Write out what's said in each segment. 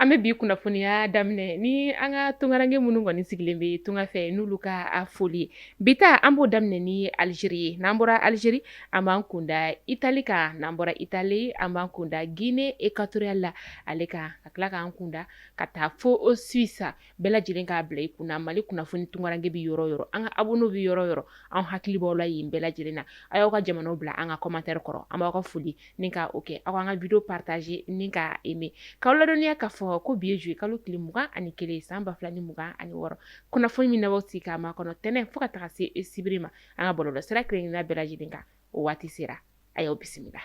an bɛ bi kunnafoniya daminɛ ni an ka tunkaranke minnu kɔni sigilen bɛ tunga fɛ n'olu ka foli ye bi ta an b'o daminɛ ni alizeri ye n'an bɔra alizeri an b'an kunda itali kan n'an bɔra itali an b'an kunda gine ekuwatoriyali la ale kan ka tila k'an kunda ka taa fo suwisi bɛɛ lajɛlen k'a bila i kun na mali kunnafoni tunkaranke bɛ yɔrɔ o yɔrɔ an ka abonnés bɛ yɔrɔ o yɔrɔ an hakili b'aw la yen bɛɛ lajɛlen na a y'aw ka jamana bila an ka commentaire kɔrɔ an b'aw ka foli ni ka o kɛ aw k'an ka vidéo partager ni ka aimer k'aw ladɔnniya k'a fɔ ko bi ye juillet kalo tile mugan ani kelen san ba fila ni mugan ani wɔɔrɔ kunnafoni min aw b'aw sigi k'a makɔnɔ tɛnɛn fo ka taga se sibiri ma an ka bɔlɔlɔ sira kelen-kelenna bɛɛ lajɛlen kan o waati sera a y'aw bisimila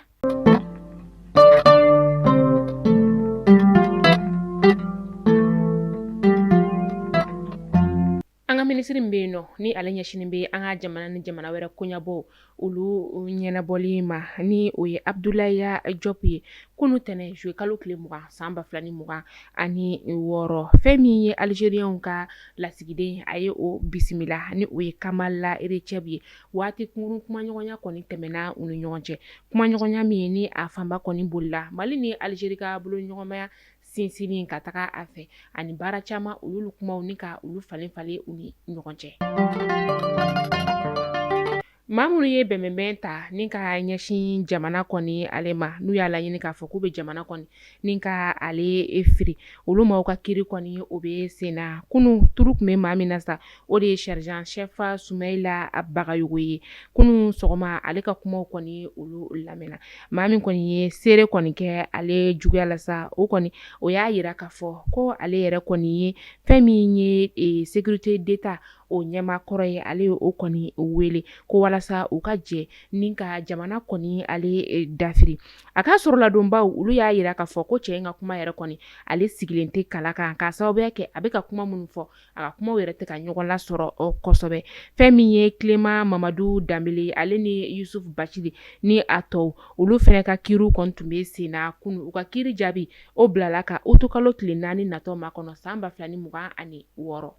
an ka minisiri min bɛ yen nɔ ni ale ɲɛsinen bɛ an ka jamana ni jamana wɛrɛ koɲabɔw olu ɲɛnabɔli ma ni o ye abudulayi jɔpu ye kunu tɛnɛ juillet kalo tile mugan san ba fila ni mugan ani wɔɔrɔ fɛn min ye alizeriyaw ka lasigiden a ye o bisimila ni o ye kamala recɛbi ye waati kunkurun kumaɲɔgɔnya kɔni tɛmɛna u ni ɲɔgɔn cɛ kumaɲɔgɔnya min ye ni a fanba kɔni bolila mali ni alizeri ka bolo ɲɔgɔnmaya sinsinni ka taga a fɛ ani baara caman u y'olu kumaw ni ka olu falen falen u ni ɲɔgɔn cɛ maa minnu ye bɛnbɛnbɛn ta ni ka ɲɛsin jamana kɔni ale ma n'u y'a laɲini k'a fɔ k'u bɛ jamana kɔni ni ka ale firi olu maaw ka kiri kɔni o bɛ sen na kunun tour tun bɛ maa min na sa o de ye sergent-chef sumayila bagayogo ye kunun sɔgɔma ale ka kumaw kɔni olu lamɛnna maa min kɔni ye seere kɔni kɛ ale juguya la sa o kɔni o y'a yira k'a fɔ ko ale yɛrɛ kɔni ye fɛn min ye sécurité d'état o ɲɛmaa kɔrɔ ye ale ye o kɔni wele ko walasa u ka jɛ ni ka jamana kɔni ale dafiri A ka sɔrɔladonbaw olu y'a yira k'a fɔ ko cɛ in ka kuma yɛrɛ kɔni ale sigilen tɛ kala kan k'a sababuya kɛ a bɛ ka kuma minnu fɔ a ka kumaw yɛrɛ tɛ ka ɲɔgɔn lasɔrɔ kosɛbɛ fɛn min ye kileman mamadu danbele ale ni yusufu bacili ni a tɔw olu fɛnɛ ka kiriw kɔni tun bɛ sen na kunu u ka kiri jaabi o bilala ka otokalo tile naani natɔ makɔnɔ san ba fila ni mugan ani wɔɔrɔ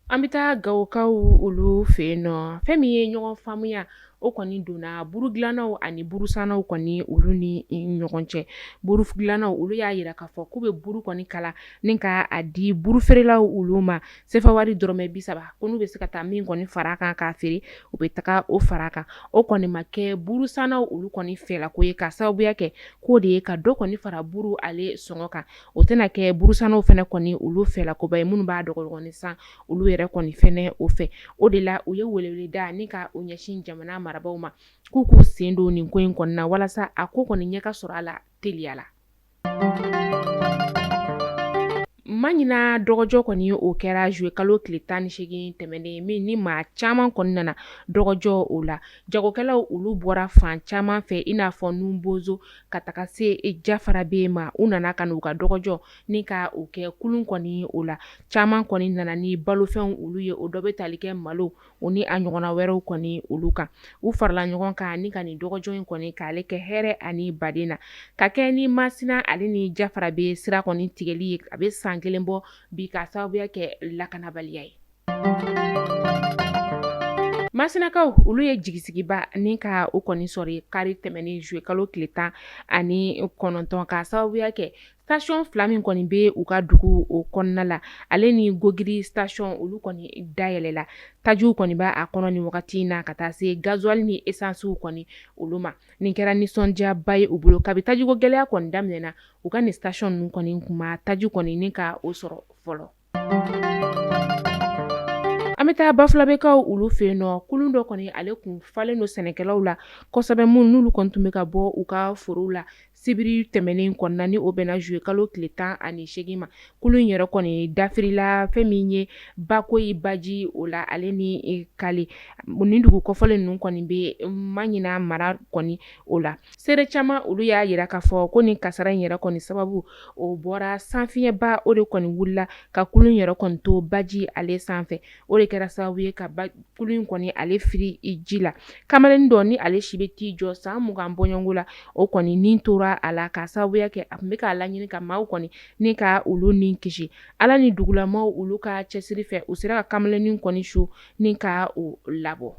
An bɛ taa gawokaw olu fɛ yen nɔ fɛn min ye ɲɔgɔn faamuya o kɔni donna burudilannaw ani burusannaw kɔni olu ni ɲɔgɔn cɛ burudilannaw olu y'a yira k'a fɔ k'u bɛ buru kɔni kala ni ka a di burufeerelaw olu ma sefa wari dɔrɔmɛ bi saba ko n'u bɛ se ka taa min kɔni fara kan k'a feere u bɛ taga o fara kan o kɔni ma kɛ burusannaw olu kɔni fɛla ko ye k'a sababuya kɛ k'o de ye ka dɔ kɔni fara buru ale sɔngɔ kan o tɛna kɛ burusannaw fɛnɛ kɔni olu fɛ la koba ye minnu b'a dɔgɔdɔgɔnin san olu yɛrɛ kɔni fɛnɛ o fɛ o de la u ye welewele da ni ka o ɲɛsin jamana marabaaw ma k'u k'u sen don nin ko in kɔni na walasa a ko kɔni ɲɛ ka sɔrɔ a la teliya la maɲina dɔgɔjɔ kɔni o kɛra zuye kalo tile tan ni seegin tɛmɛnen min ni maa caman kɔni nana dɔgɔjɔ o la jagokɛlaw olu bɔra fan caman fɛ i n'a fɔ nu bozo Ka taga se jafarabɛ ma u nana ka n'u ka dɔgɔjɔ ni ka o kɛ kulun kɔni o la caman kɔni nana ni balofɛnw olu ye o dɔ bɛ tali kɛ malo o ni a ɲɔgɔnna wɛrɛw kɔni olu kan u farala ɲɔgɔn kan ni ka nin dɔgɔjɔ in kɔni k'ale kɛ hɛrɛ ani baden na ka kɛ ni masina ale ni jafarabɛ sira kɔni tigɛli ye a bɛ san kelen bɔ bi k'a sababuya kɛ lakanabaliya ye Masinakaw olu ye jigisigiba ni ka o kɔni sɔrɔ kari tɛmɛnen zuye kalo tile tan ani kɔnɔntɔn k'a sababuya kɛ sitasiyɔn fila min kɔni bɛ u ka dugu o kɔnɔna la ale ni gogiri sitasiyɔn olu kɔni dayɛlɛ la tajiw kɔni b'a kɔnɔ nin wagati in na ka taa se gazuwali ni esansiw kɔni olu ma nin kɛra nisɔndiyaba ye u bolo kabi tajiko gɛlɛya kɔni daminɛna u ka nin sitasiyɔn ninnu kɔni tun ma taji kɔni ni ka o sɔrɔ fɔlɔ An bɛ taa bafulabekaw olu fɛ yen nɔ kulun dɔ kɔni ale tun falen don sɛnɛkɛlaw la kosɛbɛ minnu n'olu kɔni tun bɛ ka bɔ u ka forow la sibiri tɛmɛnen kɔnɔna ni o bɛnna zuye kalo tile tan ani seegin ma kulun in yɛrɛ kɔni dafirila fɛn min ye bakɔyi baji o la ale ni kale ni dugu kɔfɔlen ninnu kɔni bɛ maɲina mara kɔni o la Seere caman olu y'a yira k'a fɔ ko nin kasaara in yɛrɛ kɔni sababu o bɔra sanfiɲɛba o de kɔni wulila ka kulun yɛrɛ kɔni to baji ale sanfɛ o de kɛra sababu ye ka kulun in kɔni ale firi ji la kamalennin dɔ ni ale si bɛ t'i jɔ san mugan bɔɲɔgɔnko la o kɔni ni tora a la k'a sababuya kɛ a tun bɛ k'a laɲini ka maaw kɔni ni ka olu ni kisi ala ni dugulamaw olu ka cɛsiri fɛ u sera ka kamalennin kɔni su ni ka o labɔ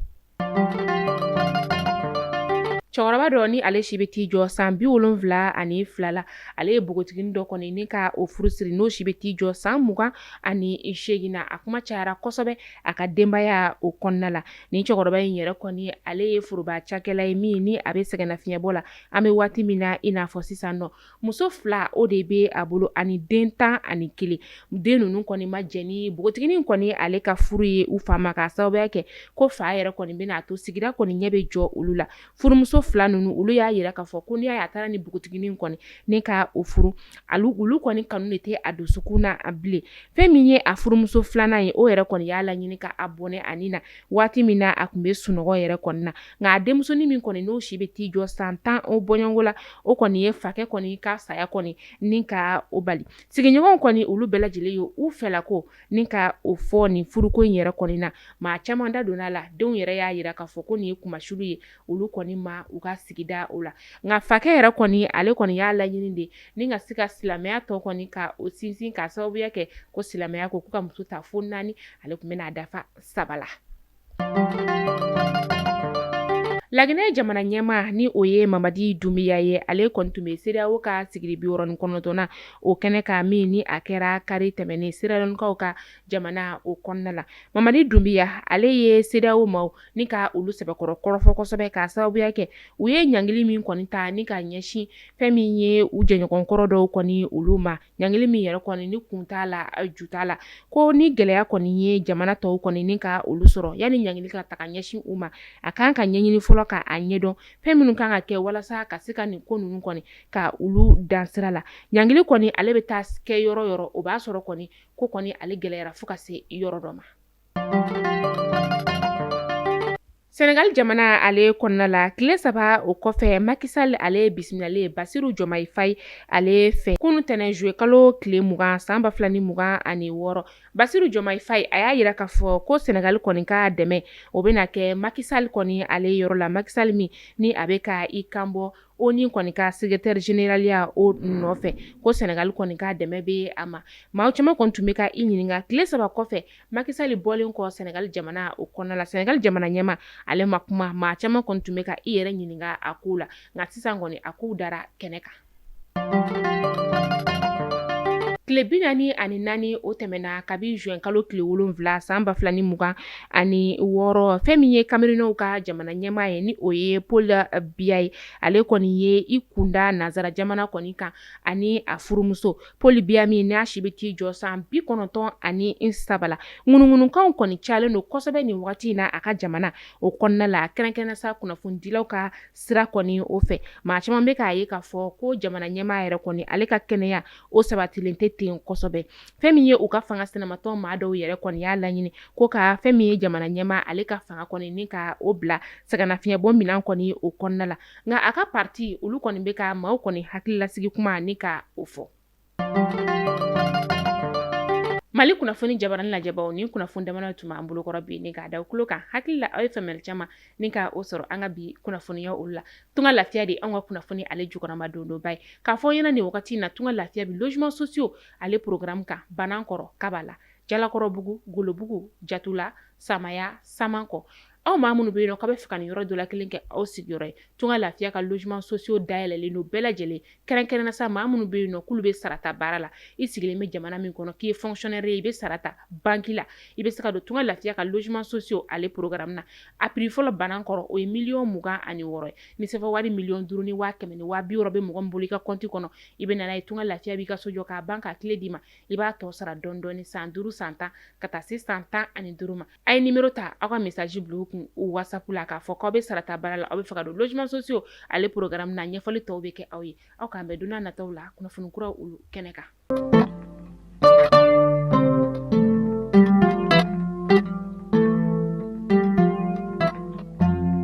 cɛkɔrɔba dɔ ni ale si bɛ t'i jɔ san bi wolonwula ani fila la ale ye npogotiginin dɔ kɔni ni ka o furu siri n'o si bɛ t'i jɔ san mugan ani seegin na a kuma cayara kosɛbɛ a ka denbaya o kɔnɔna la ni cɛkɔrɔba in yɛrɛ kɔni ale ye foroba cakɛla ye min ni a bɛ sɛgɛnnafiɲɛbɔ la an bɛ waati min na i n'a fɔ sisan nɔ Muso fila o de bɛ a bolo ani den tan ani kelen den ninnu kɔni ma jɛn ni npogotiginin kɔni ale ka furu ye u fa ma k'a sababuya kɛ ko fa yɛrɛ kɔni bɛna a to sigida kɔni ɲɛ bɛ jɔ olu la furumuso fila ninnu olu y'a yira k'a fɔ ko n'a taara ni npogotiginin kɔni ni ka o furu olu kɔni kanu de tɛ a dusukun na bilen fɛn min ye a furumuso filanan ye o yɛrɛ kɔni y'a laɲini k'a bɔnɛ a ni na waati min na a tun bɛ sunɔgɔ yɛrɛ kɔnɔna na nka a denmusonin min kɔni n'o si bɛ t'i jɔ san tan o bɔɲɔgɔnko la o kɔni ye fakɛ kɔni ka saya kɔni ni ka o bali sigiɲɔgɔn kɔni olu bɛɛ lajɛlen ye u fɛla ko ni ka o fɔ nin furuko in yɛrɛ kɔnɔna na maa caman da donna a la denw yɛrɛ y'a jira k'a fɔ ko nin ye kunmasuli ye olu kɔni ma u ka sigida o la nka fakɛ yɛrɛ kɔni ale kɔni y'a laɲini de ni ka se ka silamɛya tɔ kɔni ka o sinsin ka sababuya kɛ ko silamɛya ko k'u ka muso ta fo naani ale tun bɛna dafa saba la laginɛ jamana ɲɛmaa ni o ye mamadi dunbiya ye ale kɔni tun bɛ sedeyawo ka sigili bi wɔɔrɔ ni kɔnɔntɔnnan o kɛnɛ kan min ni a kɛra kari tɛmɛnen seralɔnkaw ka jamana o kɔnɔna la mamadi dunbiya ale ye sedeyawo maaw ni ka olu sɛbɛkɔrɔ kɔrɔfɔ kosɛbɛ ka sababuya kɛ u ye ɲangili min kɔni ta ni ka ɲɛsin fɛn min ye u jɛɲɔgɔnkɔrɔ dɔw kɔni olu ma ɲangili min yɛrɛ kɔni ni kun t'a la ju t'a la ko ni gɛlɛya kɔni ye jamana tɔw kɔni ni ka olu sɔrɔ yani ɲangili ka ta ka ɲɛsin u ma a kan ka ɲɛɲini fɔlɔ k'a ɲɛdɔn fɛn minnu kan ka kɛ walasa ka se ka nin ko ninnu kɔni ka olu dan sira la ɲangili kɔni ale bɛ taa kɛ yɔrɔ yɔrɔ o b'a sɔrɔ kɔni ko kɔni ale gɛlɛyara fo ka se yɔrɔ dɔ ma Senegali jamana ale kɔnɔna la tile saba o kɔfɛ makisali ale bisimilalen basiru jɔmayi fayi ale fɛ kunun tɛnɛn zuye kalo tile mugan san ba fila ni mugan ani wɔɔrɔ basiru jɔmayi fayi a y'a jira k'a fɔ ko sɛnɛgali kɔni ka dɛmɛ o bɛna kɛ makisali kɔni ale yɔrɔ la makisali min ni a bɛ ka i kanbɔ oni kɔni ka sekeretɛri zeneraliya o nɔfɛ ko sɛnɛgali kɔni ka dɛmɛ bɛ a ma maa caman kɔni tun bɛ ka i ɲininka tile saba kɔfɛ Makisali bɔlen kɔ sɛnɛgali jamana o kɔnɔna la sɛnɛgali jamana ɲɛmaa ale ma kuma maa caman kɔni tun bɛ ka i yɛrɛ ɲininka a ko la nka sisan kɔni a kow dara kɛnɛ kan tile bi naani ani naani o tɛmɛna kabi zuwɛn kalo tile wolonwula san ba fila ni mugan ani wɔɔrɔ fɛn min ye kamerunɛw ka jamana ɲɛmaa ye ni o ye paul biya ye ale kɔni ye i kunda nansara jamana kɔni kan ani a furumuso paul biya min n'a si bɛ t'i jɔ san bi kɔnɔntɔn ani saba la ŋunuŋunukan kɔni calen don kosɛbɛ nin waati in na a ka jamana o kɔnɔna la kɛrɛnkɛrɛnnen sa kunnafonidilaw ka sira kɔni o fɛ maa caman bɛ k'a ye k'a fɔ ko jamana ɲɛmaa yɛrɛ kɔni ale ka kɛnɛya o sabatilen tɛ ten kosɛbɛ fɛn min ye u ka fanga sinamatɔn maa dɔw yɛrɛ kɔni y'a laɲini ko ka fɛn min ye jamana ɲɛmaa ale ka fanga kɔni ni ka o bila sɛgɛnnafiɲɛbɔ minɛn kɔni o kɔnɔna la nka a ka pati olu kɔni bɛ ka maaw kɔni hakililasigi kuma ni ka o fɔ mali kunnafoni jabaranin lajɛbaw nin kunnafoni damana tun b'an bolokɔrɔ bi ni k'a da tulo kan hakili la aw ye faamuyali caman ni ka o sɔrɔ an ka bi kunnafoniya olu la tunga lafiya de an ka kunnafoni ale jukɔrɔmadondonba ye k'a fɔ ɲɛna nin wagati in na tunga lafiya bɛ logements sociaux ale programme kan banankɔrɔ kabala jalakɔrɔbugu golobugu jatula samaya samankɔ aw maa minnu bɛ yen nɔ k'a bɛ fɛ ka nin yɔrɔ dɔ la kelen kɛ aw sigiyɔrɔ ye tunga lafiya ka logements sociaux dayɛlɛlen don bɛɛ lajɛlen kɛrɛnkɛrɛnnenya sa maa minnu bɛ yen nɔ k'olu bɛ sarata baara la i sigilen bɛ jamana min kɔnɔ k'i ye fonctionnaire ye i bɛ sara ta banki la i bɛ se ka don tunga lafiya ka logements sociaux ale programme in na a prix fɔlɔ banankɔrɔ o ye miliyɔn mugan ani wɔɔrɔ ye ni sefa wari miliyɔn duuru ni waa kɛmɛ ni waa biwɔɔrɔ bɛ mɔgɔ bolo i ka kɔnti kɔnɔ i bɛ na n'a ye tunga lafiya b'i ka so jɔ k'a ban k'a kile d'i ma i b'a tɔ sara dɔɔni dɔɔni san duuru san tan ka taa se san tan ani duuru ma a ye numéro ta aw ka message bila u kun u whatsapp la k'a fɔ k'aw bɛ sarata baara la aw bɛ fɛ ka don logements sociaux ale programme na ɲɛfɔli tɔw bɛ kɛ aw ye aw k'an bɛn don n'a nataw la kunnafoni kuraw olu kɛnɛ kan